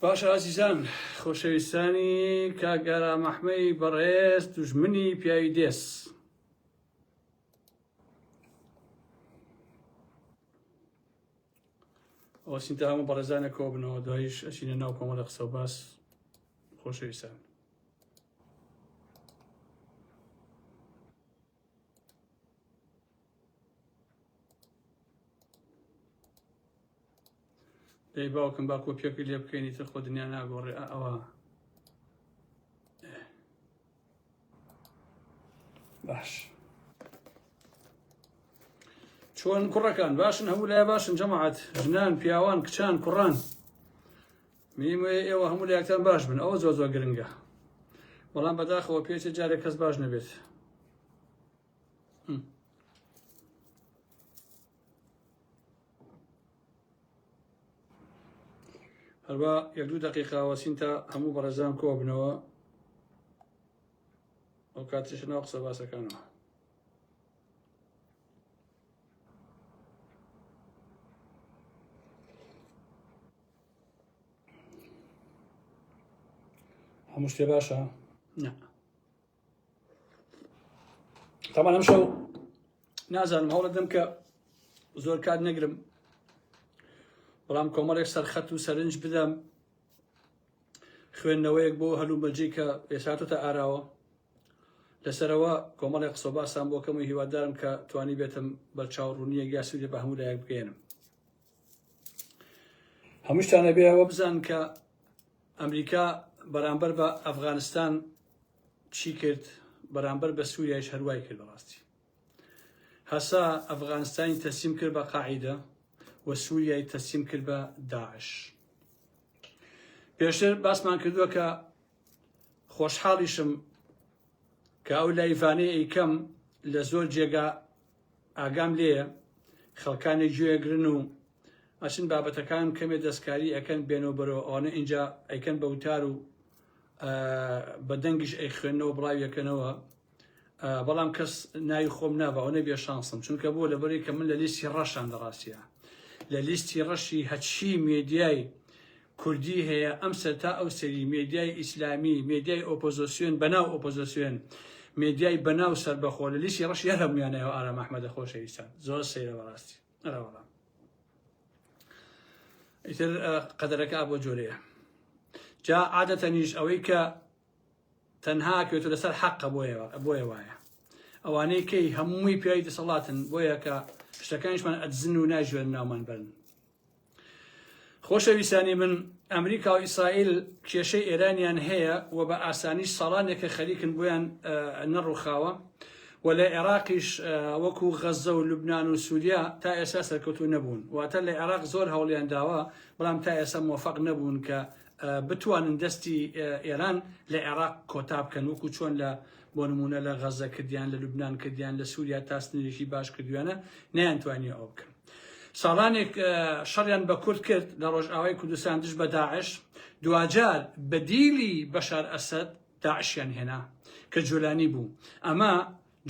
باشە ئازیزان خۆشەویستانی کاگارا مەحمەی بەڕێز دژمنی پیاوی دێس ئەو سینتا هەموو بەڕێزانە کۆ بنەوە دوایش ئەچینە ناو کۆمەڵە قسە باس خۆشەویستان دەی باوکم با کۆپیەکە لێ بکەینی تر خۆ دنیا ناگۆڕێ ئەوە باش چۆن کوڕەکان باشن هەموو لای باشن جەماعات ژنان پیاوان کچان کوڕان منیم وەیە ئێوە هەموو لایەکتان باش بن ئەوە زۆر زۆر گرنگە بەڵام بەداخەوە پێچێ جارێک کەس باش نەبێت هەروە یەک دوو دقیقاوەسین تا هەموو بەڕێزان کۆ بنەوە ئەو کاتش ناو قسە باسەکانەوە هەموو شتێ باشە تامان ئەم شەو نازانم هەوڵە دەم کە زۆر کات نەگرم بەڵام کۆمەڵێک سەرخەت و سەرنج بدەم خوێندنەوەیەک بۆ هەلومەجی کە ئێساتۆتە ئاراوە لەسەرەوە کۆمەڵی قسە باسان بۆکەم و هیوادارم کە توانی بێتم بەرچاو ڕوونیە گیاسوودێ بە هەموو لایەک بگەێنم هەمووشتان ئەبێ ئەوە بزان کە ئەمریکا بەرامبەر بە ئەفغانستان چی کرد بەرامبەر بە سووریایش هەروای کرد بەڕاستی هەسا ئەفغانستانی تەسیم کرد بە قاعدە و سووریای تەسیم کرد بە داعش پێشتر باسمان کردووە کە خۆشحاڵیشم کە ئەو لایڤانەی ئەیکەم لە زۆر جێگا ئاگام لێیە خەڵکانێ گوێ ئەگرن و ئەچن بابەتەکان کەمێ دەستکاری ئەکەن بێنەوە بەرەوە ئەوانە ئینجا ئەیکەن بە وتار و بە دەنگیش ئەی خوێندنەوە بڵاویەکەنەوە بەڵام کەس ناوی خۆم ناوە ئەو نەبێ شانسم چونکە بۆ لەبەری کە من لە لیستی ڕەشان لە ڕاستە لە لیستی ڕەشی هەچی مێدیای کوردی هەیە ئەم سەر تا ئەو سەری مێدیای ئیسلامی مێدیای ئۆپۆزۆسیۆن بەناو ئۆپۆزۆسیۆن مێدیای بەناو سەربەخۆ لە لیستی ڕەشی هەر هەموویانە ئەو ئارام ئەحمەدە خۆشەویستان زۆر سەیرە بەڕاستی ئەرا وەڵام ئیتر قەدەرەکە بۆ جۆرەیە جا عادەتەنیش ئەوەی کە تەنها کەوتو لەسەر حەقە بۆیە بۆیە وایە ئەوانەی کەی هەمووی پیاوی دەسەڵاتن بۆیە کە شتەکانیشمان ئەدزن و ناژوێن ناومان بەرن خۆشەویستانی من ئەمریکا و ئیسرائیل کێشەی ئێرانیان هەیە و بە ئاسانیش ساڵانێکە خەریکن بۆیان نەڕوخاوە و لە عێراقیش وەکو غەزە و لوبناان و سووریا تا ئێستا سەرکەوتو نەبوون واتە لە عێراق زۆر هەوڵیان داوە بەڵام تا ئێستا مۆفەق نەبوون کە بتوانن دەستی ئێران لە عێراق کۆتا بکەن وەکو چۆن لە بۆ نمونە لە غەزە کردیان لە لوبناان کردیان لە سووریا تاسنێکی باش کردویانە نیان توانیە ئەو بکەن ساڵانێک شەڕیان بە کورد کرد لە ڕۆژئاوای کوردستان دژ بە داعش دواجار بە دیلی بەشار ئەسەد داعشیان هێنا کە جۆلانی بوو ئەمە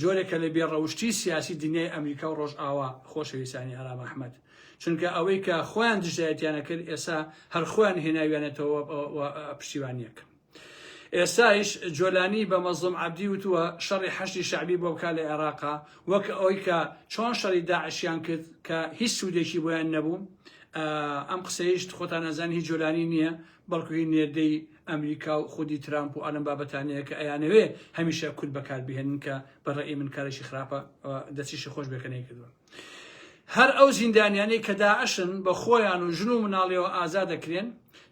جۆرێکە لە بێڕەوشتی سیاسی دنیای ئەمریکا و ڕۆژئاوا خۆشەویستانی ئارام ئەحمەد چونکە ئەوەی کە خۆیان دژایەتیانە کرد ئێسا هەر خۆیان هێناویانێتەوە پشتیوانیەکە ئێستایش جۆلانی بە مەزڵوم عەبدی وتووە شەڕی حەشدی شەعبی بۆ بکات لە ئێراقا وەک ئەوەی کە چۆن شەڕی داعشیان کرد کە هیچ سوودێکی بۆیان نەبوو ئەم قسەیشت خۆتان ئەزان هی جۆلانی نییە بەڵکو هی نێردەی ئەمریکا و خودی ترامپ و ئەلم بابەتانەیە کە ئەیانەوێ هەمیشە کورد بەکاربهێنن کە بەڕێی من کارێکی خراپە دەستیشی خۆش بێکە نەیکردووە هەر ئەو زیندانیانەی کە داعشن بە خۆیان و ژن و مناڵیەوە ئازاد دەکرێن،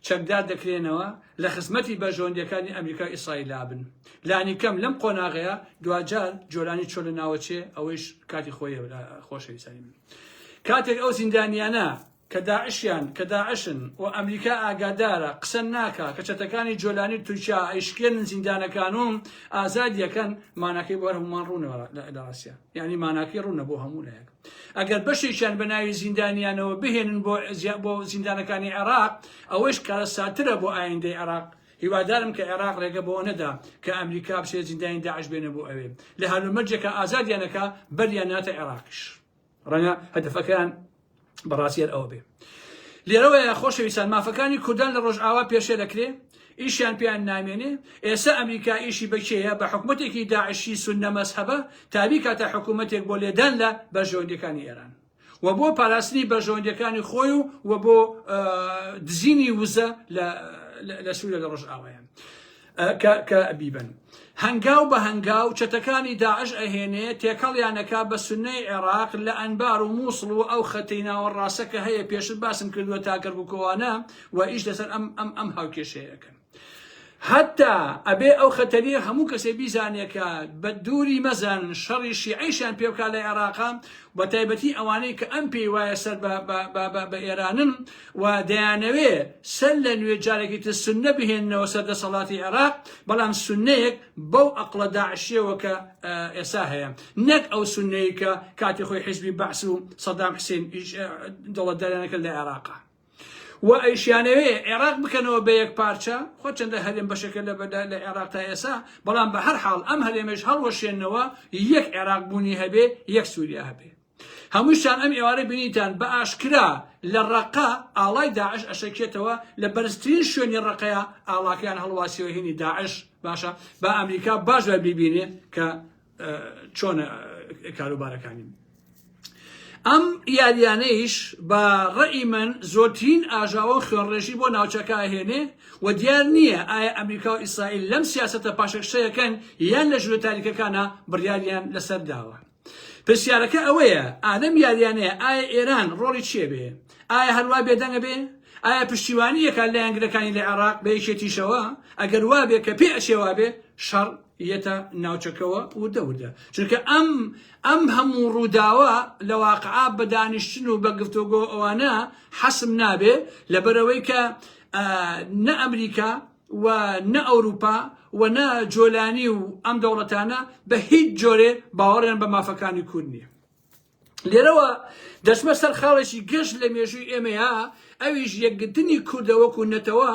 چەکدار دەکرێنەوە، لە خزمەتی بەرژەوەندیەکانی ئەمریکا و ئیسرائیلا بن. لانیکەم لەم قۆناغەیا دواجار جۆلانی چۆن لە ناوەچێ ئەوەیش کاتی خۆیە برا خۆشەویستانی من. کاتێک ئەو زیندانیانە کە داعشیان کە داعشن و ئەمریکا ئاگادارە قسە ناکا کە چەتەکانی جۆلانی تورکیا ئەیشکێنن زیندانەکان و ئازادی ئەکەن ماناکەی بۆ هەموومان ڕوونە لە ڕاستیا یعنی ماناکەی ڕوونە بۆ هەموو لایەک ئەگەر بەشێکیان بە ناوی زیندانیانەوە بهێنن بۆ بۆ زیندانەکانی عێراق ئەوەش کارەساترە بۆ ئایندەی عێراق هیوادارم کە عێراق ڕێگە بەوە نەدا کە ئەمریکا بچێت زیندانی داعش بێنە بۆ ئەوێ لە هەلومەرجێکە ئازادیانەکە بەریان ناتە عێراقیش ڕەنگە هەدەفەکەیان بەڕاستیەر ئەوە بێ لێرەوەیە خۆشەویستان مافەکانی کوردان لە ڕۆژئاوا پێشێ دەکرێ ئیشیان پێیان نامێنێ ئێستا ئەمریکا ئیشی بەکێیە بە حکوومەتێکی داعشی سونەمەس هەبە تابی کاتە حکوومەتێک بۆ لێدان لە بەرژەوەندەکانی ئێران و بۆ پاراستنی بەرژەوەندەکانی خۆی و و بۆ دزینی وزە لە لە سوورە لە ڕۆژئاوایان. کە کە بیبن هەنگاو بە هەنگاو چەتەکانی داعش ئەهێنێ تێکەڵیانەکە بە سنەی عێراق لە ئەنبار و مووسڵ و ئەو خەتەی ناوە ڕاستە کە هەیە پێشت باسم کردووە تاکەرگوکۆوانە و ئیش لەسەر ئەم ئەم ئەم هاوکێشەیەکەن حتا ئەبێ ئەو خەتەریە هەموو کەسێ بیزانێکە بە دووری مەزان شەڕی شیعیشان پێوکا لە عێراقا بە تایبەتی ئەوانەی کە ئەم پێی وایە سەر بە ئێرانن و دەیانەوێ سەر لە نوێ جارێکی تر سوننە بهێننەوە سەر دەسەڵاتی عێراق، بەڵام سوننەیەک بەو ئەقڵە داعشیەوە کە ئێستا هەیە، نەک ئەو سوننەی کە کاتی خۆی حیزبی بەعس و سەدام حسین دەوڵەتداریانە کرد لە عێراقا. و ئەیشیانەوێ عێراق بکەنەوە بە یەک پارچە خۆ چەندە هەرێم بەشەکە لە بەدا لە عێراق تا ئێسا بەڵام بە هەر حاڵ ئەم هەرێمەش هەڵوەشێنەوە یەک عێراق بوونی هەبێ یەک سووریا هەبێ هەمووشتان ئەم ئێوارە بینیتان بە ئاشکرا لە ڕەقە ئاڵای داعش ئەشەکێتەوە لە بەرزترین شوێنی ڕەقەیا ئاڵاکەیان هەڵواسیەوە هینی داعش باشە با ئەمریکا باش بە بیبینێ کە چۆن کاروبارەکانی ئەم یاریانەیش بە ڕێی من زۆرترین ئاژاوە خوێنڕێژی بۆ ناوچەکە هێنێ و دیار نییە ئایا ئەمریکا و ئیسرائیل لەم سیاستە پاشەکشەیەکەن یان لە ژورە تاریکەکانە بڕیاریان لەسەر داوە پرسیارەکە ئەوەیە ئادەم یاریانەیە ئایا ئێران ڕۆڵی چیە بێ ئایا هەروا بێدەنگە بێ ئایا پشتیوانی یەکات لایەنگرەکانی لە عێراق بە یەکێتیشەوە ئەگەر وابێ کە پێ ئەچێ وابێ شەڕ یەتە ناوچەکەوە وردە وردە چونکە ئەم ئەم هەموو ڕووداوە لە واقعا بە دانیشتن و بە گفتۆگۆ ئەوانە حەسم نابێ لەبەرەوەی کە نە ئەمریکا و نە ئەوروپا و نە جۆلانی و ئەم دەوڵەتانە بە هیچ جۆرێ باوەڕیان بە مافەکانی کورد نیە لێرەوە دەچمە سەر خاڵێکی گەشت لە مێژووی ئێمەیە ئەویش یەکگرتنی کوردە وەکو نەتەوە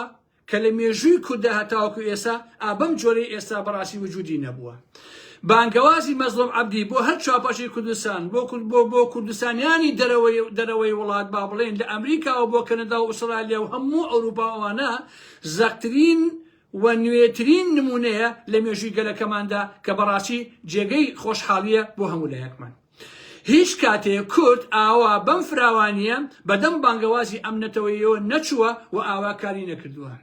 کە لە مێژووی کوردە هەتاوەکو ئێسا ئابەم جۆرەی ئێستا بەڕاستی وجودی نەبووە بانگەوازی مەزڵۆم عەبدی بۆ هەر چاپەشی کوردستان بۆ کورد بۆ بۆ کوردستانیانی دەرەوەی دەرەوەی وڵات با بڵێن لە ئەمریکاوە بۆ کەنەدا و ئوسرالیا و هەموو ئەوروپاوانە زەقترین و نوێترین نموونەیە لە مێژووی گەلەکەماندا کە بەڕاستی جێگەی خۆشحاڵییە بۆ هەموو لایەکمان. هیچ کاتێ کورد ئاوا بەم فراوانییە بەدەم بانگەوازی ئەم نەتەوەیەوە نەچووە و ئاوا کاری نەکردووە.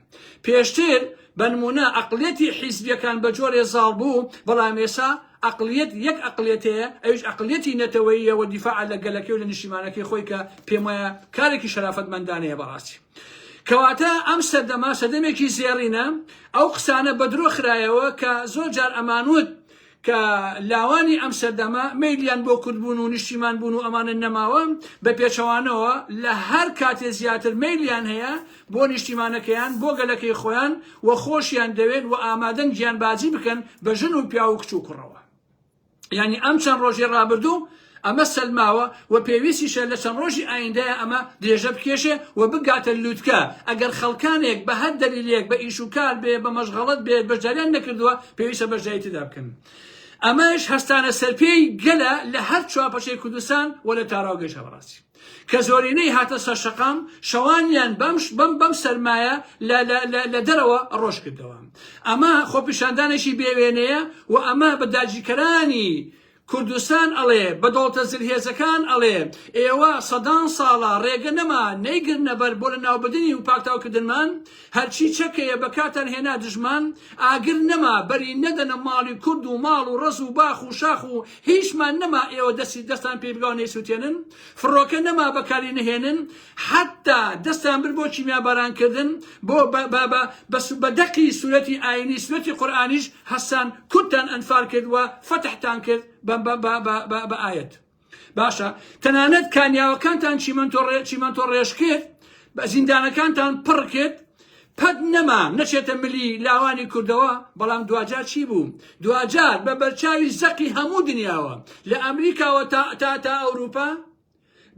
پێشتر بە نموونە ئەقڵیەتی حیزبییەکان بە جۆرێ زاڵ بوو، بەڵام ئێستا ئەقڵیەت یەک ئەقڵیەت هەیە ئەویش ئەقڵیەتی نەتەوەییە و دیفاعە لە گەلەکەی و لە نیشتیمانەکەی خۆی کە پێموایە کارێکی شەرافەتمەندانەیە بەڕاستی. کەواتە ئەم سەردەمە سەردەمێکی زێڕینە، ئەو قسانە بە درۆ خرایەوە کە زۆر جار ئەمان وت کە لاوانی ئەم سەردەمە مەیلیان بۆ کوردبوون و نیشتیمان بوون و ئەمانە نەماوە، بە پێچەوانەوە لە هەر کاتێ زیاتر مەیلیان هەیە بۆ نیشتیمانەکەیان، بۆ گەلەکەی خۆیان و خۆشیان دەوێن و ئامادەن گیانبازی بکەن بە ژن و پیاو و کچ و کوڕەوە. یانی ئەم چەند ڕۆژی ڕابردوو ئەمە سەلماوە و پێویستیشە لە چەند ڕۆژی ئایندەیە ئەمە درێژە بکێشێ و بگاتە لووتکە ئەگەر خەڵکانێک بە هەر دەلیلێک بە ئیش و کار بێ بە مەشغەڵەت بێت بەشداریان نەکردووە پێویستە بەشداری تێدا بکەن. ئەمەش هەستانە سەرپێی گەلە لە هەر چوارپەچەی کوردستان و لە تاراوگەشە بەڕاستی کە زۆرینەی هاتە سەر شەقام شەوانیان بەم بەم بەم سەرمایە لە دەرەوە ڕۆژ کردەوە ئەمە خۆپیشاندانێکی بێوێنەیە و ئەمە بە داگیرکەرانی کوردستان ئەڵێ بەدۆڵتە زلهێزەکان ئەڵێ ئێوە سەدان ساڵە ڕێگە نەما نەیگرنە بەر بۆ لە ناوبدنی و پاکتاوکردنمان هەرچی چەکەیە بە کاتان هێنا دژمان ئاگر نەما بەری نەدەنە ماڵی کورد و ماڵ و ڕز و باخ و شاخ و هیچمان نەما ئێوە دەستی دەستان پێی بگاو نەیسوتێنن فڕۆکە نەما بەکاری نەهێنن حتا دەستان بر بۆ کیمیا بارانکردن بۆ بە دەقی سوورەتی ئاینی سوەتی قورآانیش هەسان کوتتان ئەنفال کرد و فەتحتان کرد بە ئاەت باشە تەنانەت کانیاوەکانتان چیمەنتۆ چیمەنتۆ ڕێژ کرد بە زیندانەکانتان پڕ کرد پەت نەما نەچێتە ملی لاوانی کوردەوە بەڵام دواجار چی بوو دواجار بە بەرچاوی زەقی هەموو دنیاوە لە ئەمریکاوە تا تا تا ئەوروپا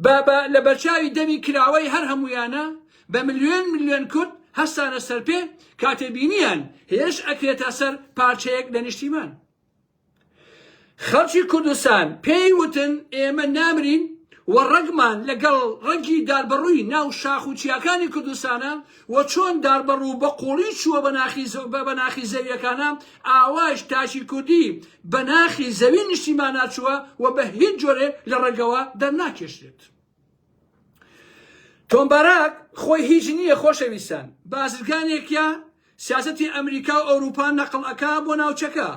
بە بە لە بەرچاوی دەمی کراوەی هەر هەمویانە بە ملیۆن ملیۆن کورد هەستانە سەرپێ کاتێ بینیان هێرش ئەکرێتە سەر پارچەیەک لە نیشتیمان خەڵکی کوردستان پێی وتن ئێمە نامرین و ڕەگمان لەگەڵ ڕەگی داربەڕووی ناو شاخ و چیاکانی کوردستانە و چۆن داربەڕوو بە قوڵی چووە بە ناخی زە- بە بە ناخی زەویەکانە ئاوایش تاکی کوردی بە ناخی زەوی نیشتیمانا چووە و بە هیچ جۆرێ لە ڕەگەوە دەرناکێشرێت. تۆم باراک خۆی هیچ نییە خۆشەویستان بازرگانێکە سیاسەتی ئەمریکا و ئەوروپا نەقل ئەکا بۆ ناوچەکە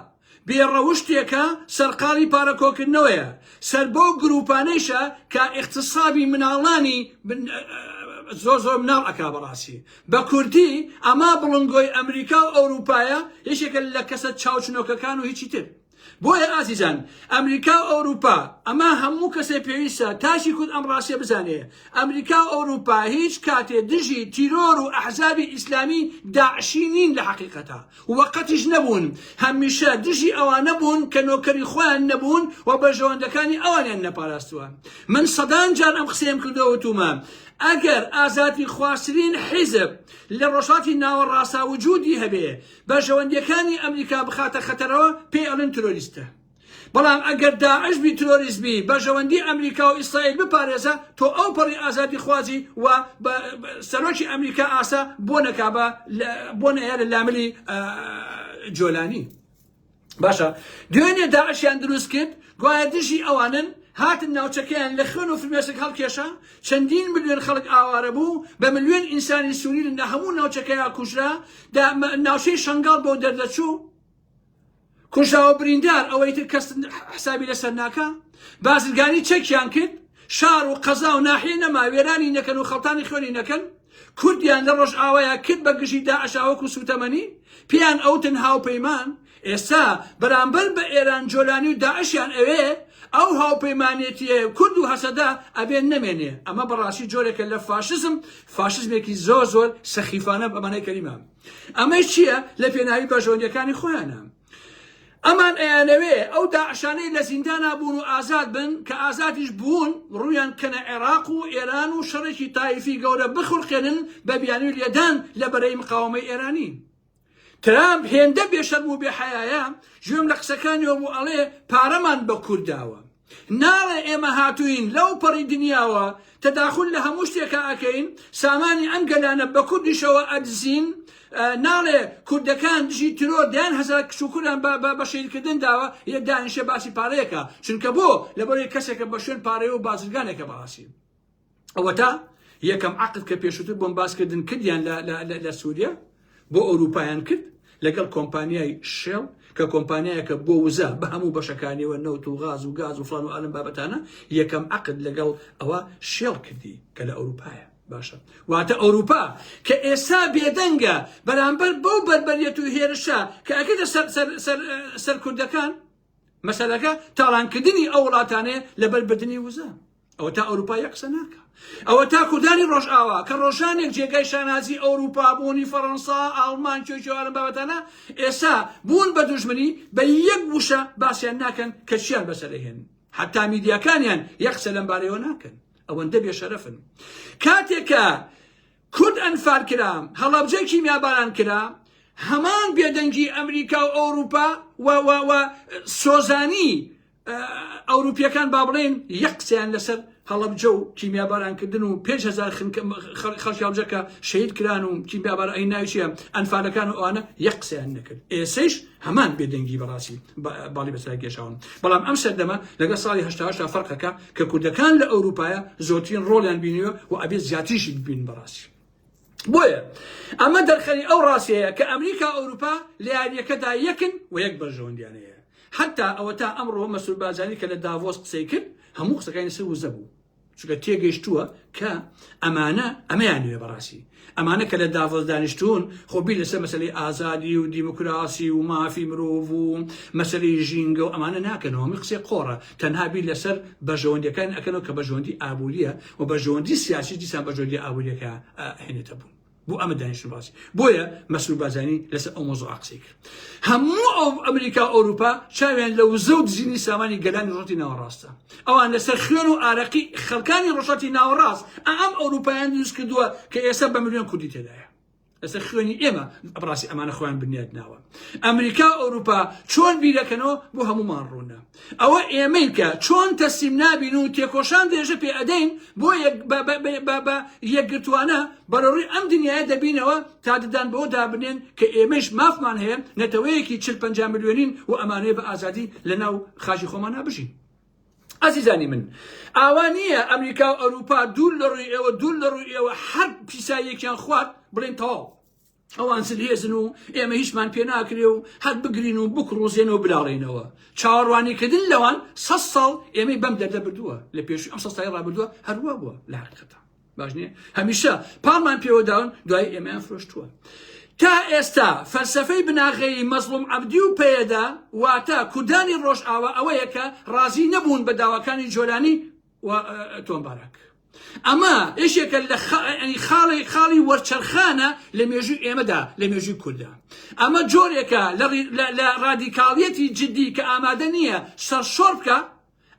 بێڕەوشتێکە سەرقاڵی پارەکۆکردنەوەیە سەر بەو گروپانەیشە کە اقتصابی مناڵانی زۆر زۆر مناڵ ئەکا بەڕاستی بە کوردی ئەما بڵنگۆی ئەمریکا و ئەوروپایە یەکێکە لە کەسە چاوچنۆکەکان و هیچی تر بۆیە ئازیزان ئەمریکا و ئەوروپا ئەمە هەموو کەسێ پێویستە تاکی کورد ئەم ڕاستیە بزانێ ئەمریکا و ئەوروپا هیچ کاتێ دژی تیرۆر و ئەحزابی ئیسلامی داعشی نین لە حەقیقەتا و قەتیش نەبوون هەمیشە دژی ئەوانە بوون کە نۆکەری خۆیان نەبوون و بەرژەوەندەکانی ئەوانیان نەپاراستووە من سەدان جار ئەم قسەیەم کردەوە وتومە ئەگەر ئازادی خواسترین حیزب لە ڕۆژهاتی ناوەڕاستە وجودی هەبێ بەرژەوەندیەکانی ئەمریکا بخاتە خەتەرەوە پێی ئەڵێن ترۆریستە بەڵام ئەگەر داعش بی ترۆریست بی بەرژەوەندی ئەمریکا و ئیسرائیل بپارێزە تۆ ئەو پەڕی ئازادی خوازی و سەرۆکی ئەمریکا ئاسا بۆ نەکا بۆ نەیە لە لاملی جۆلانی باشە دوێنێ داعشیان دروست کرد گوایە دژی ئەوانن هاتن ناوچەکەیان لە خوێن و فرمێسک هەڵکێشا چەندین ملیۆن خەڵک ئاوارە بوو بە ملیۆن ئینسانی سووری لە هەموو ناوچەکەیان کوژرا ناوچەی شنگال بۆ دەردەچوو کوژاوە بریندار ئەوەی تر کەس حسابی لەسەر ناکە بازرگانی چەکیان کرد شار و قەزا و ناحیە نەما وێرانی نەکەن و خەڵتانی خوێنی نەکەن کوردیان لە ڕۆژئاوایا کرد بە گژی داعشا وەکو سوتەمەنی پێیان ئەوتن هاوپەیمان ئێستا بەرامبەر بە ئێران جۆلانی و داعشیان ئەوێ ئەو هاوپەیمانێتیە کورد و هەسەدە ئەبێ نەمێنێ ئەمە بەڕاستی جۆرێکە لە فاشزم فاشزمێکی زۆر زۆر سەخیفانە بەمانای کەلیمە ئەمەی چییە لە پێناوی بەژۆندەکانی خۆیانە ئەمان ئەیانەوێ ئەو داعشانەی لە زیندانا بوون و ئازاد بن کە ئازادیش بوون ڕوویان کەنە عێراق و ئێران و شەڕێکی تایفی گەورە بخولقێنن بە بیانوی لێدان لە بەرەی مقاوەمەی ئێرانی ترامپ هێندە بێشەرم و بێحەیایە گوێم لە قسەکانیەوە بوو ئەڵێ پارەمان بە کورد داوە ناڵێ ئێمە هاتووین لەو پەڕی دنیاوە تەداخول لە هەموو شتێکا ئەکەین سامانی ئەم گەلانە بە کوردیشەوە ئەدزین ناڵێ کوردەکان دژی ترۆر دەیان هەزار کشوکوران بە شەیرکردن داوە یە دانیشە باسی پارەیەکە چونکە بۆ لەبەرەی کەسێکە بە شوێن پارەیە و بازرگانێکە بەڕاستی ئەوەتا یەکەم عقد کە پێشوتر بۆم باس کردن کردیان لە سووریا بۆ ئەوروپایان کرد لەگەڵ کۆمپانیای شێڵ کە کۆمپانیایەکە بۆ وزە بە هەموو بەشەکانیەوە نەوت و غاز و گاز و فلان و ئالم بابەتانە یەکەم عقد لەگەڵ ئەوە شێڵ کردی کە لە ئەوروپایە باشە واتە ئەوروپا کە ئێستا بێدەنگە بەرامبەر بەو بەربەریەت و هێرشە کە ئەکەدە سەر کوردەکان مەسەلەکە تاڵانکردنی ئەو وڵاتانەیە لەبەر بردننی وزە ئەوە تا ئەوروپا یە قسە ناکە ئەوە تا کوردانی ڕۆژئاوا کە ڕۆژانێک جێگای شانازی ئەوروپا بوونی فەڕەنسا ئاڵمان چۆچوارم بابەتانە ئێسا بوون بە دوژمنی بە یەک وشە باسیان ناکەن کە چیان بەسەرهێن حتا میدیاکانیان یەک قسە لەم بارەیەوە ناکەن ئەوەندە بێشەرەفن کاتێکە کورد ئەنفال کرا هەڵەبجە کیمیاباران کرا هەمان بێدەنگی ئەمریکا و ئەوروپا و سۆزانی ئەوروپیەکان با بڵێن یەک قسەیان لەسەر هەڵەبجە و کیمیابارانکردن و پێ هزار خەڵکی هەڵبجەکە شەید کران و کیمیابار ئەی ناوچە ئەنفالەکان و ئەوانە یەک قسەیان نەکرد ئێسش هەمان بێدەنگی بەڕاستی باڵی بەسرای گەشاون بەڵام ئەم سەردەمە لەگە ساڵی هشتا فەرقەکە کە کوردەکان لە ئەوروپایە زۆترین ڕۆڵیان بینیوە و ئەبێت زیاتریشی ببین بەڕاستی بۆیە ئەمە دەرخەری ئەو ڕاستەیە کە ئەمریکا و ئەوروپا لە یارییەکەدا یەکن و یەک بەرژەوەندیانە هەیە حتا ئەوەتا ئەمڕۆ مەسرور بارزانی کە لە داڤۆس قسەی کرد هەموو قسەکانی لەسەر وزە بوو چونکە تێگەیشتووە کە ئەمانە ئەمەیان نوێ بەڕاستی ئەمانە کە لە داڤۆس دانیشتوون خۆ بیر لەسەر مەسلەی ئازادی و دیموکراسی و مافی مرۆڤ و مەسلەی ژینگە و ئەمانە ناکەنەوە هەمووی قسەی قۆڕە تەنها بیر لەسەر بەرژەوەندیەکان ئەکەنەوە کە بەرژەوەندی ئابووریە و بەرژەوەندی سیاسی دیسان بەرژەوەندی ئابووریەکە هێنێتە بوون بۆ ئەمە دانیشتن باسی بۆیە مەسرور بازانی لەسەر ئەو مۆزوع قسەی کرد هەموو ئەو ئەمریکا و ئەوروپا چاویان لە وزە و دزینی سامانی گەلانی ڕۆتی ناوەڕاستە ئەوان لەسەر خوێن و ئارەقی خەڵکانی ڕۆژاتی ناوەڕاست ئەم ئەوروپایان دروست کردووە کە ئێستا بە ملیۆن کوردی تێدایە لەسەر خوێنی ئێمە بڕاستی ئەمانە خۆیان بنیاد ناوە ئەمریکا ئەوروپا چۆن بیرەکەنەوە بۆ هەمومان ڕوونە ئەوە ئێمەی کە چۆن تەسیم نابین و تێکۆشان دێژە پێ ئەدەین بۆ یەکگرتوانە بەرەڕووی ئەم دنیاە دەبینەوە تا ددان بۆ دابنێن کە ئێمەش مافمان هەیە نەتەوەیەکی چل پ میلیۆنین و ئەمانەیە بە ئازادی لە ناو خاژی خۆمانە بژین ئازیزانی من ئاوا نییە ئەمریکا و ئەوروپا دوور لە ڕووی ئێوە دوور لە ڕووی ئێوە هەر پیساییەکیان خوارد بڵێن تەواو ئەوان زلهێزن و ئێمە هیچمان پێ ناکرێ و هەر بگرین و بکڕوزێن و بلاڵێنەوە چاوەڕوانیکردن لەوان سە ساڵ ئێمەی بەم دەردە بردووە لە پێش ئەم سەستای ڕابردووە هەروە بووە لە حقیقەتە باش نییە هەمیشە پاڵمان پێوەداون دوای ئێمەیان فرۆشتووە تا ئێستا فەلسفەی بناغەیی مەزڵوم عەبدی و پەیەدا واتە کوردانی ڕۆژئاوا ئەوەیە کە ڕازی نەبوون بە داواکانی جۆلانی و تۆم باراک ئەمە یەکێکە لە خاڵی خاڵی وەرچەرخانە لە مێژووی ئێمەدا لە مێژووی کووردا ئەمە جۆرێکە لە ڕادیکاڵیەتی جددی کە ئامادە نییە سەرشۆر بکە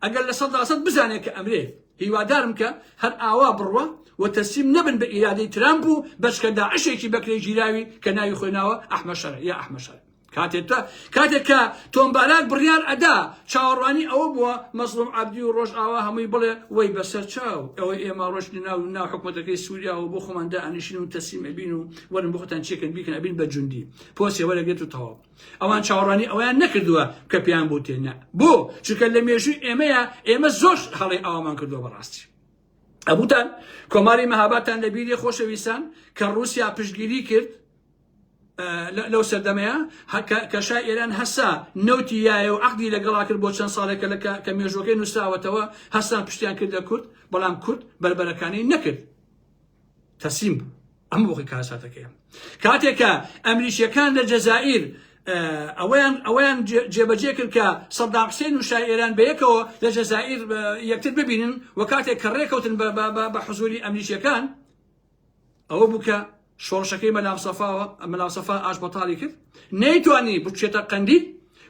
ئەگەر لە سەدا سەد بزانێ کە ئەمرێ هیوادارم کە هەر ئاوا بڕوا و تەسلیم نەبن بە ئیرادەی ترامپ و بەچکە داعشێکی بەکرێ گیراوی کە ناوی خۆی ناوە ئەحمە شەرع یا ئەحمە شەرع کاتێک تا کاتێک کە تۆم باراک بڕیار ئەدا چاوەڕوانی ئەوە بووە مەزڵوم عەبدی و ڕۆژ ئاوا هەمووی بڵێ وەی بەسەر چاو ئەوەی ئێمە ڕۆشتی ناو و ناو حکوومەتەکەی سووریا و بۆ خۆماندا ئەنیشین و تەسلیم ئەبین و وەرن بۆ خۆتان چێکن بیکەن ئەبین بە جوندی پۆسێ وەرەگرێت و تەواو ئەوان چاوەڕوانی ئەوەیان نەکردووە کە پێیان بوتێ نە بۆ چونکە لە مێژووی ئێمەیە ئێمە زۆر هەڵێ ئاوامان کردووە بەڕاستی ئەبوتان کۆماری مەهاباتان لە بیری خۆشەویستان کە رووسیا پشتگیری کرد لەو سەردەمەیە کەشا ئێران هەسا نەوتی یایە و عقدی لەگەڵا کرد بۆ چەند ساڵێکە لە کە مێژۆکەی نووسراوەتەوە هەستان پشتیان کردە کورد بەڵام کورد بربەرەکانی نەکرد تەسلیم بوو ئەمە بۆخی کارەساتەکەیە کاتێک کە ئەمریکیەکان لە جەزائیر ئەویان ئەویان جێبەجێ کرد کە سەدام حسێن و شای ئێران بەیەکەوە لە جەزائیر یەکتر ببینن و کاتێک کە ڕێکەوتن بە حزوری ئەمریکیەکان ئەوە بوو کە شۆڕشەکەی مەلام سەفاوە مەلام سەفا ئاش بەتاڵی کرد نەیتوانی بچێتە قەندی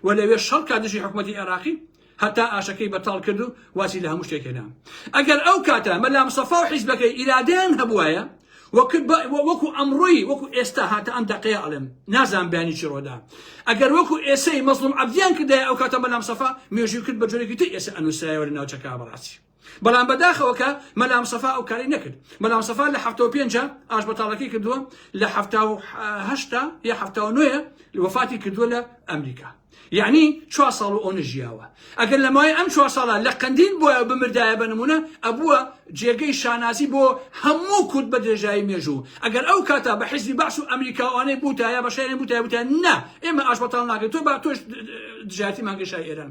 و لەوێ شەڕکە دژی حکوومەتتی عێراقی هەتا ئاشەکەی بەتاڵ کرد و واسی لە هەموو شتێک هێنا ئەگەر ئەو کاتە مەلا مستەفا و حیزبەکەی ئیرادەیان هەبوایە وەکو ئەمڕۆی وەکو ئێستا هاتە ئەم دەقەیە ئەڵێم نازان بیانی چی ڕۆدا ئەگەر وەکو ئێسەی مەزڵوم عەبدیان کردای ئەو کاتە مەلا مستەفا مێژووی کرد بە جۆرێکی تر ئێسە ئەنووسرایەوە لە ناوچەکە بەڕاستی بەڵام بەداخەوە کە مەلام سەفا ئەو کاری نەکرد مەلام سەفا لە هەفتەوە پێنجە ئاش بەتاڵەکەی کردووە لە هەفتاهشتا یا هەفتاوە نوێە وفاتی کردووە لە ئەمریکا یعنی چوار ساڵ و ئەو نژیاوە ئەگەر لە مای ئەم چوار ساڵە لە قندیل بۆە بمردایە بە نمونە ئەبووە جێگەی شانازی بۆ هەموو کورد بە درێژایی مێژوو ئەگەر ئەو کاتا بە حزبی باش و ئەمریکاوانەی بوتایە بە شارێن بوتای بوتە نا ئێمە ئاش بەتاڵ ناکەین تۆ با تۆش دژاتی مانگەشای ئێران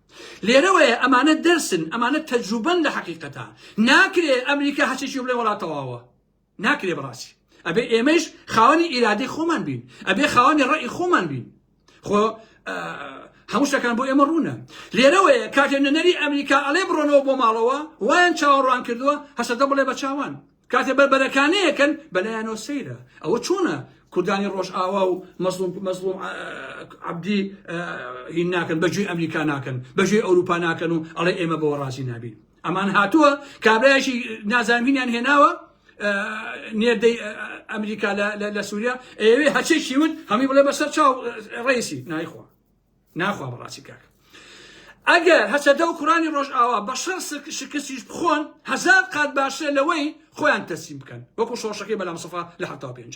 لێرەوەیە ئەمانە دەرسن ئەمانە تەجروبەن لە حەقیقەتا ناکرێ ئەمریکا هەچێکی بڵێ وڵا تەواوە ناکرێ بڕاستی ئەبێ ئێمەش خاوەنی ئیرادەی خۆمان بین ئەبێ خاوەنی ڕێی خۆمان بین خۆ هەموو شتەکان بۆ ئێمە ڕوونە لێرەوەیە کاتێ نەنەری ئەمریکا ئەڵێ بڕۆنەوە بۆ ماڵەوە وایان چاوەڕوان کردووە هەسەدە بڵێ بە چاوان کاتێ بەربەرەکانەیەکەن بەلایانەوە سەیرە ئەوە چۆنە کوردانی ڕۆژئاوا و مەزلوم مەزلوم عبدی هین ناکەن بەجوی ئەمریکا ناکەن بەژێ ئەوروپا ناکەن و ئەڵێ ئێمە بەوە ڕازی نابین ئەمان هاتووە کابراایشی نازانینیان هێناوە نێردەی ئەمریکا لە سووریا ئەوێ هەچێکی وت هەمی بڵێ بەسەر چاو ڕیسی نایخوا ناخوا بەڕاستی کاکە ئەگەر هەسەدە و کوڕانی ڕۆژئاوا بە شەڕ شکستیش بخۆن هەزار قات باشترە لەوەی خۆیان تەسیم بکەن وەکو شۆڕشەکەی بەلام سەفا لە حتا پێنج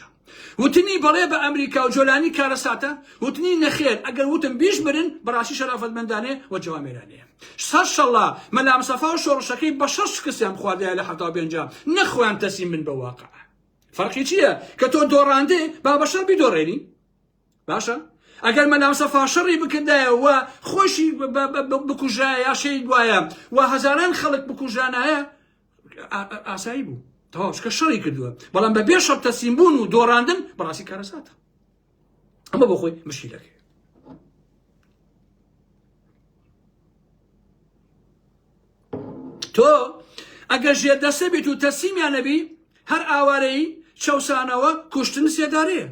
وتنی بەڵێ بە ئەمریکا و جۆلانی کارەساتە وتنی نەخێر ئەگەر وتم بیش برن بەڕاستی شەرافەتمەندانێ و جوامێرانەیە سەر شەڵا مەلام سەفا و شۆڕشەکەی بە شەڕ شکستیان بخواردایە لە حتا پێنج نەخۆیان تەسیم من بە واقع فەرقی چییە کە تۆ دۆڕاندێ با بە شەڕ بیدۆڕێنی باشە ئەگەر مەلامسە فاشەڕی بکردایە و خۆشی بکوژایە یا شەید وایە و هەزاران خەڵک بکوژانایە ئاسایی بوو تەواوشکە شەڕی کردووە بەڵام بە بێ شەر تەسیم بوون و دۆڕاندن بەڕاستی کارەساتە ئەمە بۆ خۆی مشکیلەکەی تۆ ئەگەر ژێر دەسە بیت و تەسیمیان نەبی هەر ئاوارەی چەسانەوە کوشتن سێدارەیە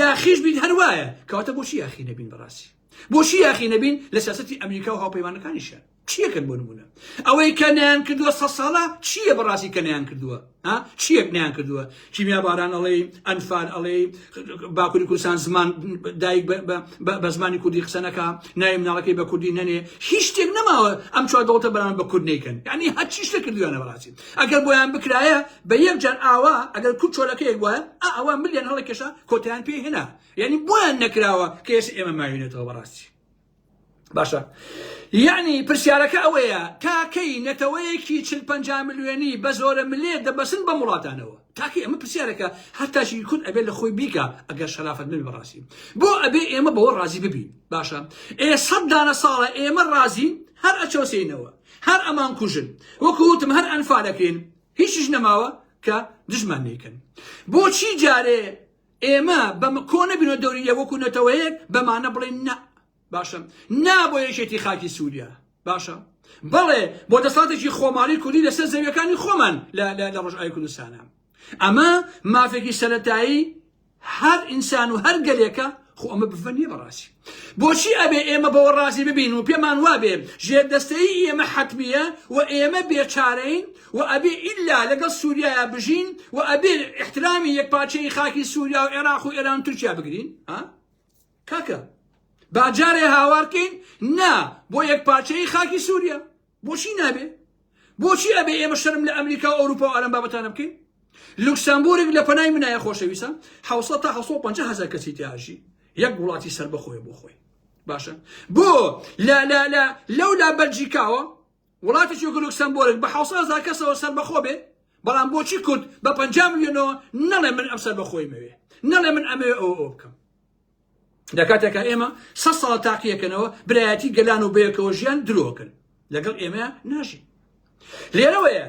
یاخیش بیت هەر وایە کەواتە بۆچی یاخی نەبین بەڕاستی بۆچی یاخی نەبین لە سیاستی ئەمریکا و هاوپەیمانەکانیشە چیەکەن بۆ نمونە ئەوەی کە نیان کردووە سە ساڵە چییە بەڕاستی کە نیان کردووە ها چیەک نیان کردووە کیمیا باران ئەڵێی ئەنفال ئەڵێی باکووری کوردستان زمان دایک بە زمانی کوردی قسە نەکا ناوی مناڵەکەی بە کوردی نەنێ هیچ شتێک نەماوە ئەم چوار دەوڵەتە بەران بە کورد نیکەن یعنی هەر چی شتە کردویانە بەڕاستی ئەگەر بۆیان بکرایە بە یەک جار ئاوا ئەگەر کورد چۆلەکەیەک وایە ئەوە ملیان هەڵەکێشا کۆتیان پێ هێنا یعنی بۆیان نەکراوە کە ئێستا ئێمە ماوینێتەوە بەڕاستی باشە یعنی پرسیارەکە ئەوەیە تاکەی نەتەوەیەکی چل پەنجا ملیۆنی بە زۆرە ملێ دەبەسن بەم وڵاتانەوە تاکەی ئەمە پرسیارەکە هەتاشی کورد ئەبێت لە خۆی بیکە ئەگەر شەرافەت نبی بەڕاستی بۆ ئەبێ ئێمە بەوە ڕازی ببین باشە ئێ سەد دانە ساڵە ئێمە ڕازین هەر ئەچۆسینەوە هەر ئەمان کوژن وەکوتم هەر ئەنفالەکرێن هیچیش نەماوە کە دژمان نیکن بۆچی جارێ ئێمە بە کۆ نەبینەوە دەوری لێ وەکو نەتەوەیەک بەمانە بڵێن نە باشە نا بۆ یەکێتی خاکی سووریا باشە بەڵێ بۆ دەساتێکی خۆماڵی کوردی لەسەر زەویەکانی خۆمان لە ڕۆژئای کوردستانە ئەمە مافێکی سەتایی هەر ئینسان و هەر گەلێکە خۆ ئەمە بفەنیە بەڕاستی بۆچی ئەبێ ئێمە بەوە ڕازی ببین و پێمان وابێ ژێر دەستەی ئێمە حتممیە و ئێمە بێچارەین وە ئەبێ ئیلا لەگەڵ سوریایا بژین وە ئەبێ ئیحترامی یەک پارچەیی خاکی سوریا و عێراق و ئێران و تورکیا بگرین ها کاکە با جارێ هاوار کەین نا بۆ یەک پارچەیی خاکی سوریا بۆچی نابێ بۆچی ئەبێ ئێمە شەرم لە ئەمریکا و ئەوروپا و ئەرم بابەتانە بکەین لوکسامبورگ لە پەنای منایە خۆشەویستە 600 تا 650 هزار کەسی تیاژی یەک وڵاتی سربەخۆی بۆ خۆی باشە بۆ لە لە لە لەو لا بەلجیکاوە وڵاتێکی وەکو لوکسەمبۆرگ بە حەوت سەد هەزار کەسەوە سەربەخۆ بێ، بەڵام بۆچی کورد بە پەنجا ملیۆنەوە نەڵێ من ئەم سەربەخۆییم ئەوێ، نەڵێ من ئەمەوێ ئەوە ئەوە بکەم. لە کاتێکا ئێمە سەد ساڵە تاقیەکەنەوە برایەتی گەلان و بەیەکەوە ژیان درۆکن لەگەڵ ئێمە ناژین. لێرەوەیە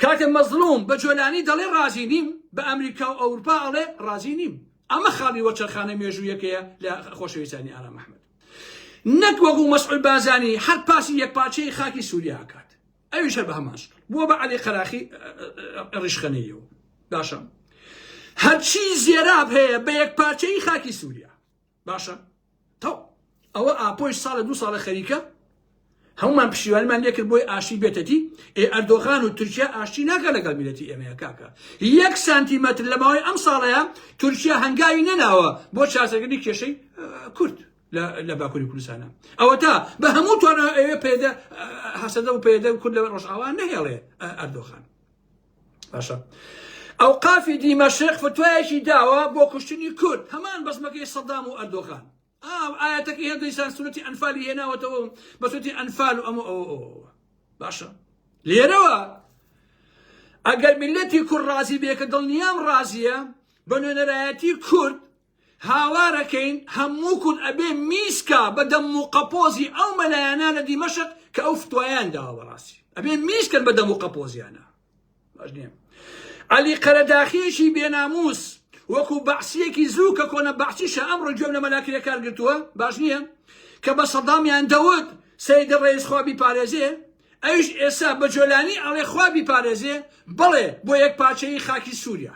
کاتێ مەزلوم بە جۆلانی دەڵێ ڕازی نیم بە ئەمریکا و ئەوروپا ئەڵێ ڕازی نیم ئەمە خاڵی وەچەرخانە مێژوویەکەیە لە خۆشەویستانی ئارام ئەحمەد نەک وەکو مەسعود بازانی هەر پاسی یەکپارچەی خاکی سوریا ئەکات ئەویش هەر بە هەمان شکل بووە بە عەلی قەراخی ڕیشخەنەیەوە باشە هەرچی زێراب هەیە بە یەکپارچەی خاکی سوریا باشە تەو ئەوە ئاپۆش ساڵە دو ساڵە خەریکە هەموومان پشتیوانیمان لێکرد بۆی ئاشتی بێتەدی ئێ ئەردۆغان و تورکیا ئاشتی ناکە لەگەڵ میلەتی ئێمەیە کاکە یەک سانتیمەتر لە ماوەی ئەم ساڵەیە تورکیا هەنگاوی نەناوە بۆ چارەسەرکردنی کێشەی کورد لە باکووری کوردستانە ئەوەتا بە هەموو توانە ئەوێ پێدە هەسەدە و پێدە کورد لە ڕۆژئاوا نەهێڵێ ئەردۆخان باشە ئەو قافی دیمەشق فتوایەکی داوە بۆ کوشتنی کورد هەمان بەزمەکەی سەدام و ئەردۆخان ئاو ئایەتەکەی هەر دیسان سورەتی ئەنفالی هێناوەتەوە بە سورەتی ئەنفال و ئەمە ئەوە ئەوە باشە لێرەوە ئەگەر میلەتی کورد ڕازی بێکە دڵنیام ڕازیە بە نوێنەرایەتی کورد هاوارەکەین هەموو کورد ئەبێ میسکا بە دەم و قەپۆزی ئەو مەلایەنە لە دیمەشق کە ئەو فتوایان داوە بەڕاستی ئەبێ میسکن بە دەم و قەپۆزیانە علی قەرەداخیەکی بێناموس وەکو بەعسیەکی زوو کە کۆنە بەعسیشە ئەم ڕجۆم لە مەلاکرێ کار گرتووە باش نییە کە بە سەدامیان دەوت سەیدە ڕێز خوابی پارێزێ ئەوش ئێسا بە جۆلانی ئەڵێ خوابی پارێزێ بڵێ بۆ یەک پارچەی خاکی سووریا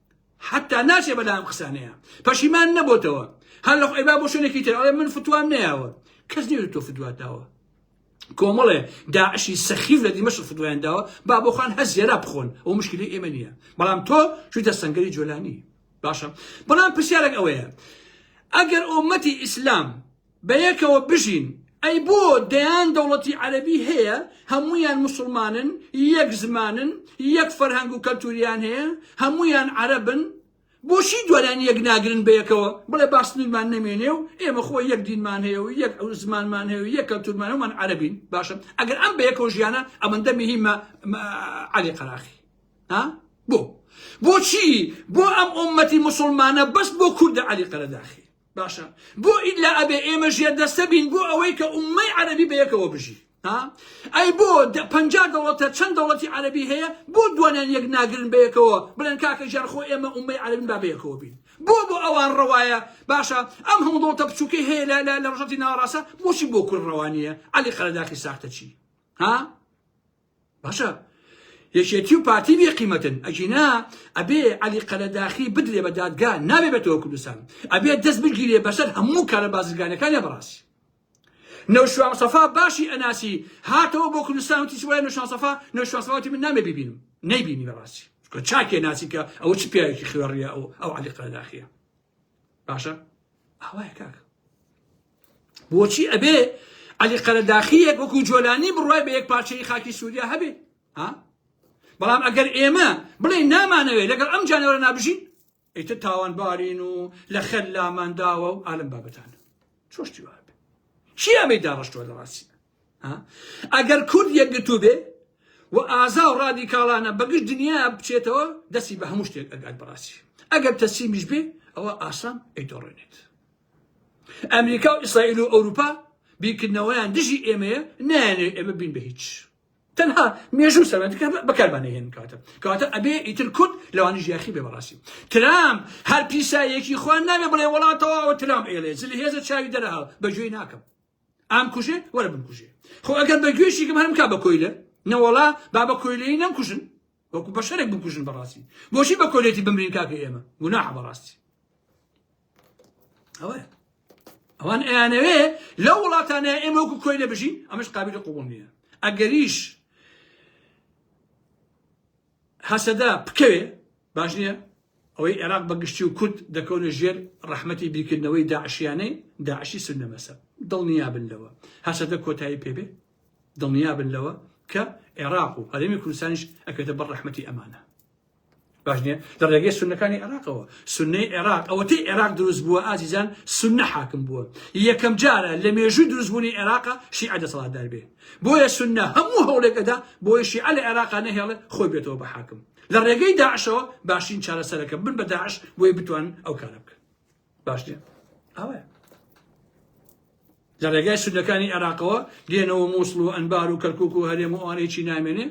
حەتا ناچێ بەلا ئەم قسانەیە پەشیمان نەبۆتەوە هەر لە خۆی با بۆ شوێنێکی تر ئەڵێ من فتوام نەیاوە کەس نیو تۆ فتواتاوە کۆمەڵێ داعشی سەخیف لە دیمەش فتوایان داوە با بۆ خۆن هەر زێرا بخۆن ئەو مشکلی ئێمە نییە بەڵام تۆ چویتە سنگری جۆلانی باشە بەڵام پرسیارێک ئەوەیە ئەگەر ئۆمەتی ئیسلام بەیەکەوە بژین ئەی بۆ دەیان دەوڵەتی عەرەبی هەیە هەموویان موسڵمانن یەک زمانن یەک فەرهەنگ و کەلتوریان هەیە هەموویان عەرەبن بۆچی دوایان یەک ناگرن بەیەکەوە بڵێ با سنورمان نەمێنێ و ئێمە خۆ یەک دینمان هەیە و یەک زمانمان هەیە و یەک کەلتورمان هەمان عەرەبین باشە ئەگەر ئەم بەیەکەوە ژیانە ئەمەندە مهمە عەلی قەراخی ها بۆ بۆچی بۆ ئەم ئۆمەتی مسلمانە بەس بۆ کوردە عەلی قەرەداخی باشە بۆ ئیلا ئەبێ ئێمە ژێر دەستە بین بۆ ئەوەی کە ئومەی عەربی بە یەکەوە بژی ها ئەی بۆ پەنجا دەوڵەتە چەند دەوڵەتی عەربی هەیە بۆ دوانیان یەک ناگرن بە یەکەوە بڵێن کاکە ژیان خۆ ئێمە ئومەی عەربین با بە یەکەوە بین بۆ بۆ ئەوان ڕەوایە باشە ئەم هەموو دەوڵەتە بچووکەی هەیە لە لە ڕژەتی ناوەڕاستە بۆچی بۆ کورد ڕەوانیە عەلی قەرەداخی ساختە چی ها باشە یەکێتی و پارتی بێ قیمەتن ئەگینا ئەبێ علی قەرەداخی بدرێ بە دادگا نابێ بێتەوە کوردستان ئەبێ دەست بگیرێ بەسەر هەموو کارە بازرگانەکانی بەڕاست نەوشوان سەفا باشی ئەناسی هاتەوە بۆ کوردستان وتی وای نەوشان سەفا نەوشان سەفاتی من نامێ ببینم نەیبینی بەڕاستی چاکێ ناسی کە ئەوە چ پیاوێکی خوێڕیە ئەو ئەو علی قەرەداخیە باشە ئاوایە کاک بۆچی ئەبێ علی قەرەداخیەک وەکو جۆلانی بڕای بە یەک پارچەی خاکی سووریا هەبێ ها بەڵام ئەگەر ئێمە بڵێ نامانەوێت لەگەڵ ئەم جانەوەرە نابژین ئیتە تاوانبارین و لە خەل لامانداوە و ئالم بابەتان چۆشتی وابێ چیابێ داڕشتوە لە ڕاستە ئەگەر کورد یەکگرتوو بێ و ئازا و ڕادیکاڵانە بە گشت دنیا بچێتەوە دەستی بە هەموو شتێک ئەگات بەڕاستی ئەگەر تەسیمیش بێ ئەوە ئاسان ئەیدۆڕێنێت ئەمریکا و ئیسرائیل و ئەوروپا بیکردنەوەیان دژی ئێمەیە نایانێ ئێمە بین بە هیچ تەنها مێژوو سەرەنجکە بەکاربانێ هێن کاتە کاتە ئەبێ ئیتر کورد لەوانی ژیاخی بێ بەڕاستی ترام هەر پیسایەکی خوان نابێ بڵێ وڵاتەوە ترام ئێلێ زل هێزە چاوی دەرەها بەگوێی ناکەم ئام کوژێ وەرە بم کوژێ خۆ ئەگەر بە گوێشیکم هەرم کا بە کۆیلە نەوەڵا با بە کۆیلەی نەم کوژن وەکو بە شەرێک بکوژن بەڕاستی بۆشی بە کۆلێتی بمرین کاکە ئێمە گوناح بەڕاستی ئەوە ئەوان ئەیانەوێ لەو وڵاتانە ئێمە وەکو کۆیلە بژین ئەمەش قابلی قوبڵ نییە ئەگەریش هەسەدە بکەوێ باش نیە، ئەوەی عێراق بە گشتی و کورد دەکەونە ژێر ڕەحمەتی بیرکردنەوەی داعشیانەی داعشی سنە مەسەب دڵنیابن لەوە هەسەدە کۆتایی پێبێ دڵنیابن لەوە کە عێراق و هەرێمی کوردستانیش ئەکرێتە بە ڕەحمەتی ئەمانە باش نیە لە ڕێگەی سونەکانی عێراقەوە سنەی عێراق ئەوەتەی عێراق دروست بووە ئازیزان سنە حاکم بووە یەکەم جارە لە مێژووی دروستبوونی عێراقە شیعە دەسەڵاتدار بێ بۆیە سوننە هەموو هەوڵێک ئەدا بۆی شیعە لە عێراقا نەهێڵێ خۆی بێتەوە بە حاکم لە ڕێگەی داعشەوە باشترین چارەسەرەکە بن بە داعش بۆی بتوان ئەو کارە بکەن باش نیە ئەوە لە ڕێگای سودەکانی عێراقەوە دێنەوە مووسڵ و ئەنبار و کەرکک و هەرێم و ئەوانێکی نامێنێ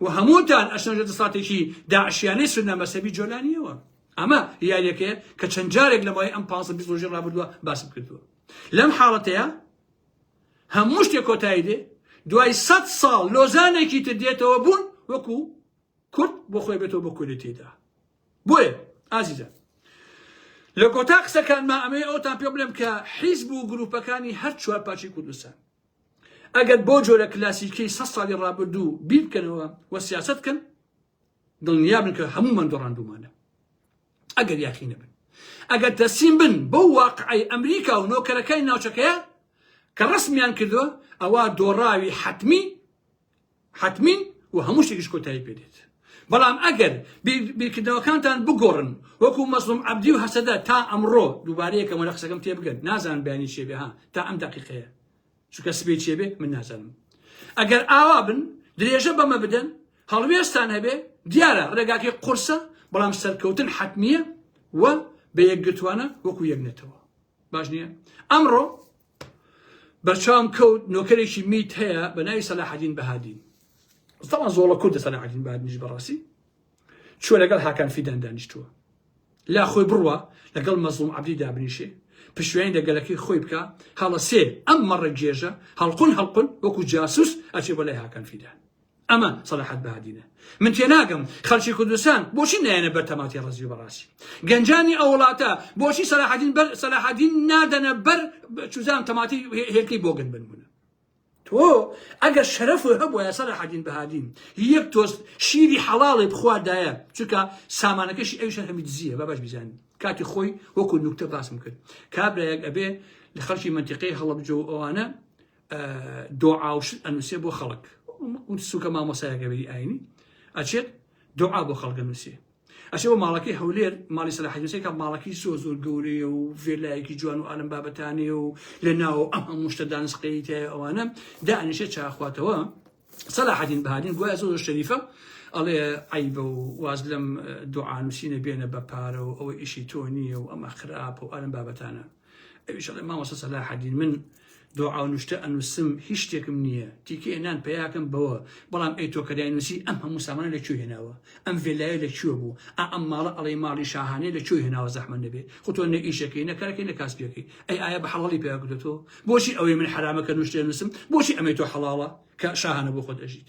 و هەمووتان ئەشنەژە دەساتێکی داعشیانەی سودە مەسەبی جۆلانیەوە ئەمە یاریەکەیە کە چەند جارێک لەمای ئەم پاس بیۆژی ڕابردووە باسم کردووە لەم حاڵەتەیە هەموو شتێ کۆتایی دێ دوای سەد ساڵ لۆزانێکی تر دێتەوە بوون وەکو کورد بۆ خۆی بێتەوە بۆ کولی تێدا بۆیە ئازیزە لە کۆتا قسەکانما ئەمەی ئەوتان پێ بڵێم کە حیزب و گروپەکانی هەر چوار پارچی کوردستان ئەگەر بۆ جۆرە کلاسیکی سە ساڵی ڕابردوو بیرکەنەوە و سیاست کەن دڵنیا بن کە هەموو من دۆڕاندومانە ئەگەر یاخی نەبن، ئەگەر تەسلیم بن بەو واقعەی ئەمریکا و نۆکەرەکانی ناوچەکەیە کە ڕەسمیان کردووە، ئەوا دۆڕاوی حەتمی حەتمین و هەموو شتێکیش کۆتایی پێ دێت. بەڵام ئەگەر بیرکردنەوەکانتان بگۆڕن وەکو مەزڵوم عەبدی و هەسەدە تا ئەمڕۆ، دووبارە یەکەمە لە قسەکەم تێبگەن، نازانن بەیانی چییە بێ ها تا ئەم دەقیقەیە چونکە سبەی چێ بێ من نازانم ئەگەر ئاوا بن درێژە بەمە بدەن هەڵوێستان هەبێ دیارە ڕێگاکەی قورسە بەڵام سەرکەوتن حەتمیە و بە یەکگرتوانە وەکو یەک نەتەوە باش نییە ئەمڕۆ بەرچاوم کەوت نۆکەرێکی میت هەیە بە ناوی سەلاحەدین بەهادین زەڵە زۆڵە کوردە سەلاحەدین بەهادنیش بەڕاستی چوە لەگەڵ هاکان فیدان دانیشتوە لا خۆی بڕوا لەگەڵ مەزڵوم عەبدی دابنیشێ پشویانی لە گەلەکەی خۆی بکە هەڵە سێ ئەم مەڕە گێژە هەڵقون هەڵقون وەکو جاسوس ئەچێ بەلای هاکان فیدان ئەمە سەلاحەت بادینە من تێناگەم خەلکی کوردستان بۆچی نایەنە بەر تەماتی ڕزیو بەڕاستی گەنجانی ئەو وڵاتە بۆچی سەلاحەدین بەر سەلاحەدین نادەنە بەر چوزان تەماتی هێلکەی بۆگەن بنبوون تۆ ئەگەر شەرەفت هەبوایە سەلاحەدین بەهادین هی یەک تۆست شیری حەڵاڵێ بخواردایە چونکە سامانەکەشی ئەویش هەر هەمی دزیە با باش بیزانین کاتی خۆی وەکو نوکتە باسم کرد کابرایەک ئەبێ لە خەڵکی مەنتیقەی هەڵەبجە و ئەوانە دۆعا و شت ئەنووسێ بۆ خەڵک سوکە مامۆسایەکە بێری ئاینی ئەچێت دۆعا بۆ خەڵکە نووسێ ئەچێ بۆ ماڵەکەی هەولێر ماڵی سەلاحەدین حوسێن کە ماڵەکەی زۆر زۆر گەورەیە و ڤێلایەکی جوان و ئالەم بابەتانەیە و لە ناوە ئەم هەموو شتە دانسقەی تای ئەوانە دانیشێ چاخواتەوە سەلاحەدین بهادین گوایە زۆر زۆر شەریفە ئەڵێ عیبە و واز لەم دوعانوسینە بێنە بە پارە و ئەوە ئیشی تۆ نییە و ئەمە خراپە و ئالەم بابەتانە ئەویش ئەڵێ مامۆستا سەلاحەدین من دۆعا و نوشتە ئەنووسم هیچ شتێکم نییە تیکێ نان پیاکەم بەوە بەڵام ئەی تۆ کەدای نووسی ئەم هەموو سامانە لە کوێ هێناوە ئەم ڤێلایە لە کوێ بوو ئا ئەم ماڵە ئەڵەی ماڵی شاهانەیە لە کوێ هێناوە زەحمەت نەبێت خۆ تۆ نە ئیشەکەی نە کارەکەی نە کاسبیەکەی ئەی ئایا بە حەڵاڵی پیا کردێتەوە بۆچی ئەوەی من حرامەکە نوشتێ نووسم بۆچی ئەمەی تۆ حەڵاڵە کە شاهانە بۆ خۆت ئەژیت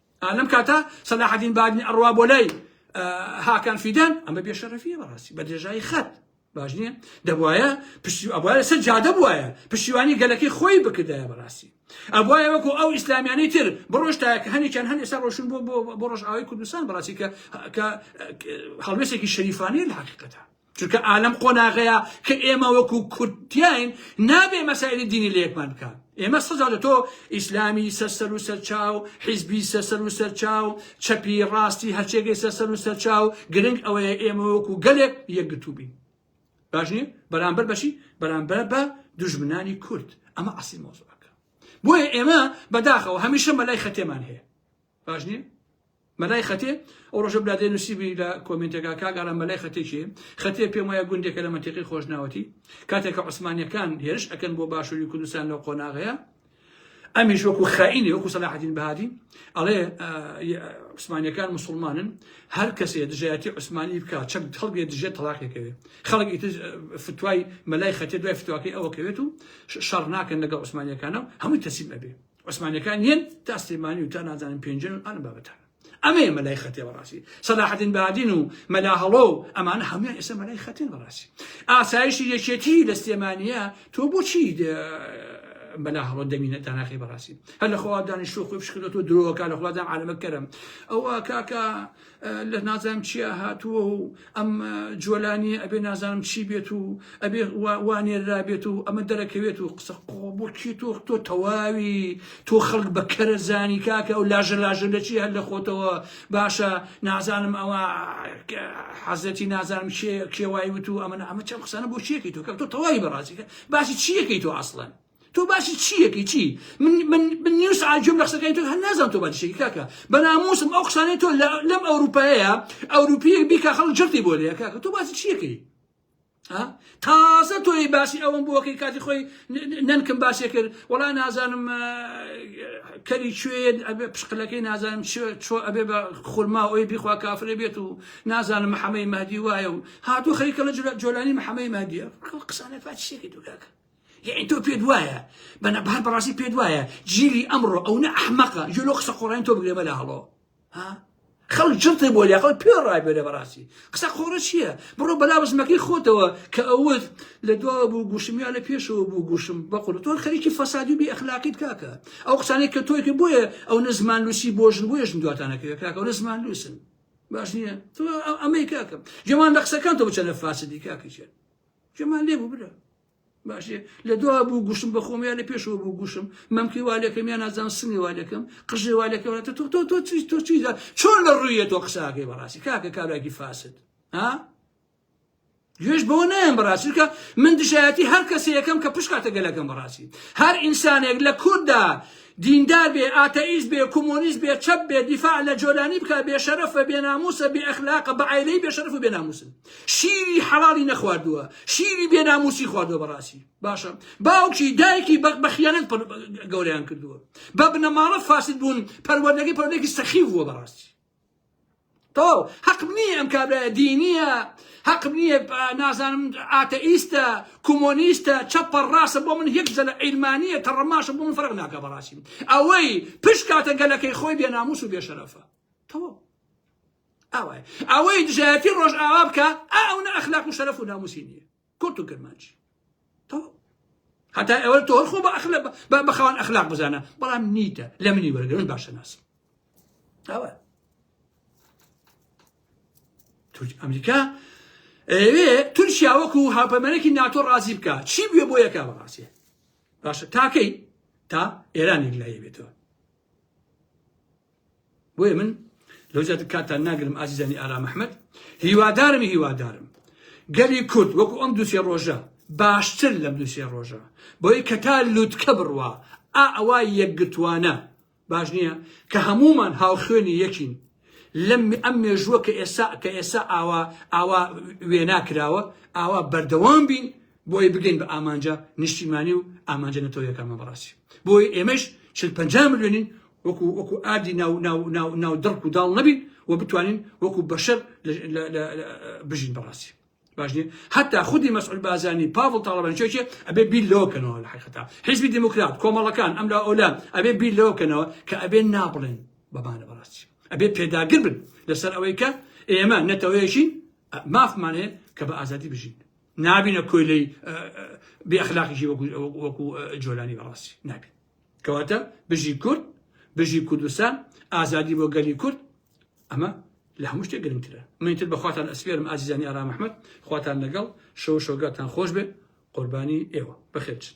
لەم کاتە سەلاحەدین بادینی ئەڕوا بۆ لای هاکان فیدان ئەمە بێشەرەفیە بەڕاستی بە درێژایی خەت باش نییە دەبواە پشتی ئەبواە لەسەر جادە بواە پشتیوانی گەلەکەی خۆی بکردایە بەڕاستی ئەبواە وەکو ئەو ئیسلامیانەی تر بڕۆشتایە کە هەنێکیان هەن ئێستا ڕۆشن بۆ بۆ ڕۆژئاوای کوردستان بەڕاستی کە کە هەڵوێستێکی شەریفانەیە لە حقیقەتە چونکە ئالەم قۆناغەیە کە ئێمە وەکو کورد تیاین نابێ مەسایلی دینی لە یەکمان بکات ئێمە سەزا لە تۆ ئیسلامی سەرسەر و سەرچاو حیزبی سەسەر و سەرچاو چەپی ڕاستی هەرچێگەی سەسەر و سەرچاو گرنگ ئەوەیە ئێمە وەکو گەلێک یەکگرتوبین باش نیە بەرامبەر بەشی بەرامبەر بە دژمنانی کورد ئەمە عسی مۆزەکە بۆیە ئێمە بەداخەوە هەمیشە مەلای خەتێمان هەیە باش نیم؟ مەلای خەتێ ئەو ڕۆژە برادێ نووسیبی لە کۆمنتێکا کاک ئارام مەلای خەتێ کێ خەتێ پێم وایە گوندێکە لە مەنتیقی خۆشناوەتی کاتێکە عوسمانیەکان هێرش ئەکەن بۆ باشووری کوردستان لەو قۆناغەیە ئەمیش وەکو خائینی وەکو سەلاحەدین بەهادی ئەڵێ عوسمانیەکان مسلمانن هەر کەسێ دژایەتی عوسمانی بکە چەند خەڵگێ دژێ تەلاقێکەوێ خەڵکی فتوای مەلای خەتێ دوای فتواکەی ئەوەکەوێت و شەڕ ناکەن لەگە عوسمانیەکانە هەمووی تەسیم ئەبێ عوسمانیەکان یەن تا سلێمانی و تا نازانم پێنجن و ئەم بابەتان ئەمەیە مەلای خەتێ بەڕاستی سەلاحەدین بادین و مەلا هەڵۆ و ئەمانە هەموان ئێستا مەلای خەتێن بەڕاستی ئاسایشی یەکێتی لە سلێمانە تۆ بۆچی بەلا هەڵۆ دەمینە تاناخی بەڕاستی هەر لە خوا دانیشتۆ خۆی بشکردۆ درۆکە لە خوادام عالەمە کەرم ئەوە کاکە لە نازانم چیا هاتووە و ئەم جۆلانیە ئەبێ نازانم چی بێت و ئەبێ وانێررا بێت و ئەمە دەرەکەوێت و قسە قۆبکی تۆ تۆ تەواوی تۆ خەڵک بە کەرە زانی کاکە و لاژە لاژە لە چی هەر لە خۆتەوە باشە نازانم ئەوە حەزەتی نازانم کێوای وت و ئەمە ئەمە چەم قسانە بۆ چیەکەی تۆ کە تۆ تەواوی بەڕازیکە باسی چیەکەی تۆ ئاسڵەن تۆ باسی چیەکی چی من من من نیو سعات گوێم لە قسەکانی تۆ هەر نازانم تۆ باسی چیەکی کاکە بە ناموسم ئەو قسانەی تۆ لە- لەم ئەوروپایەیە ئەوروپیەک بیکا خەڵک جڕتی بۆ لێ کاکە تۆ باسی چیەکەی ها تازە تۆی باسی ئەوم بۆکەی کاتی خۆی ن- ن- نەنکم باسی کرد وەڵا نازانم اه، کەری کوێیە ئەبێ پشقلەکەی نازانم چۆ چۆ ئەبێ بە خورما ئەوی بیخوا کافرە بێت و نازانم محەمەی مەهدی وایە و هاتوو خەریکە لە جۆلانی محەمەی مەهدیە قسانە فاتشێکی دوو کاکە یعنی تۆ پێت وایە بەە بەهر بەڕاستی پێت وایە جیلی ئەمڕۆ ئەو نە ئەحمەقە جێ لۆ قسە قۆڕین تۆ بگرێ بەلا هەڵۆ خەڵ جڵتی بۆ لە خەڵ پێ ڕابێرە بەڕاستی قسە قۆڕە چییە بڕۆ بەلا بزمەکەی خۆتەوە کە ئەوت لە دواوە بوو گوشم یا لە پێشەوە بوو گوشم بەقول تۆ خەریکی فەسادی بی ئەخلاقیت کاکە ئەو قسانێک کە تۆی کرد بۆیە ئەو نە زمان لوسی بۆژن بۆێژن دواتانەکەوێت کاکە ئەو نە زمان لوسن باش نییە تۆ ئەمەی کاکەم جێمان دەقسەکان تۆ بچەنە فاسدی کاکەچێت جەمال لێ بوو برا باشێ لە دوا بوو گوشم بە خۆم یا لە پێشەوە بوو گوشم مەمکی والەکەم یا نازان سنی والەکەم قژێ والەکەم تۆ تۆ تۆ تۆ چی تۆ چی چۆن لە ڕوویە تۆ قساکەی بەڕاستی کاکە کابراکی فاسد ها گوێش بەوە نایەن بەڕاستکە من دژایەتی هەر کەسە یەکەم کە پشکاتە گەلەکەم بەڕاستی هەر ئینسانێک لە کورددا دیندار بێ ئاتەئیز بێ کۆمۆنیز بێ چەپ بێ دیفاع لە جۆلانی بکە بێ شەرەفە بێ ناموسە بێ ئەخلاقە بە ئایلەی بێ شەرف و بێ ناموسن شیری حەڵاڵی نەخواردووە شیری بێ ناموسی خواردووە بەڕاستی باشە باوکی دایکی بەق بە خیانەت گەوریان کردووە بە بنەماڵە فاسد بوون پەروەردەگەی پەرودێکی سەخی بووە بەڕاستی تەواو حەقم نییە ئەم کابراە دینیە حەقم نییە نازانم ئاتەئیستە کۆمۆنیستە چەپە ڕاستە بۆ من هێک زەلە عیلمانیە کە ڕەماشە بۆ من فەرق ناکە بەڕاستی ئەوەی پشکاتە گەلەکەی خۆی بێ ناموس و بێشەرەفە تەواو ئەوەی ئەوەی دژایەتی ڕۆژئاوا بکە ئا ئەو نە ئەخلاق و شەرەف و ناموسی نییە کورت و کرمانجی تەواو هەتا ئێوە تۆر خۆ بە ئەخلە بە بەخەوان ئەخلاق بزانە بەڵام نیتە لە منی وەرگرن باشە ناسم ئەوە تورک ئەمریکا ئەوێ تورکیا وەکو هاپەمەرەێکی ناتۆ ڕازی بکە چی بێ بۆ یەکا بەڕاستە باشە تاکەی تا ئێرانێک لایە بێتەوە بۆیە من لەو زیاتر کاتتان ناگرم ئازیزانی ئارام ئەحمەد هیوادارم هیوادارم گەلی کورد وەکو ئەم دوسێ ڕۆژە باشتر لەم دوسێ ڕۆژە بۆی کە تا لوتکە بڕوا ئا ئەوە یەکگرتوانە باش نییە کە هەمومان هاوخوێنی یەکین لەم ئەم مێژووە کە ئێسا کە ئێسا ئاوا ئاوا وێنا کراوە ئاوا بەردەوام بین بۆی بگەین بە ئامانجە نیشتیمانی و ئامانجە نەتەوەیەکانمان بەڕاستی بۆی ئێمەش چل پ ملیۆنین وەکو وەکو ئادی ناو ناو ناو ناو دڕک و داڵ نەبین و بتوانین وەکو بەشەر بژین بەڕاستی باشنی حتا خودی مەسعول بازانی پاڤڵ تاڵەبانچێکێ ئەبێ بیر لەوکەنەوە لە حقتا حیزبی دموکرات کۆمەڵەکان ئەم لە ئەولان ئەبێ بیر لەوکەنەوە کە ئەبێ نابڵێن بەمانە بەڕاستی ئەبێ پێداگر بن لەسەر ئەوەی کە ئێمە نەتەوەیەشین مافمانێ کە بە ئازادی بژین نابینە کۆیلەی بێ ئەخلاقیشی وەکو جۆلانی بەڕاستی نابین کەواتە بژی کورد بژی کوردستان ئازادی بۆ گەلی کورد ئەمە لە هەموو شتێک گرنگترە منتر بە خواتان ئەسپێرم ئازیزانی ئارام ئەحمەد خواتان لەگەڵ شەو شۆگاتان خۆش بێ قوربانی ئێوە بەخێرچن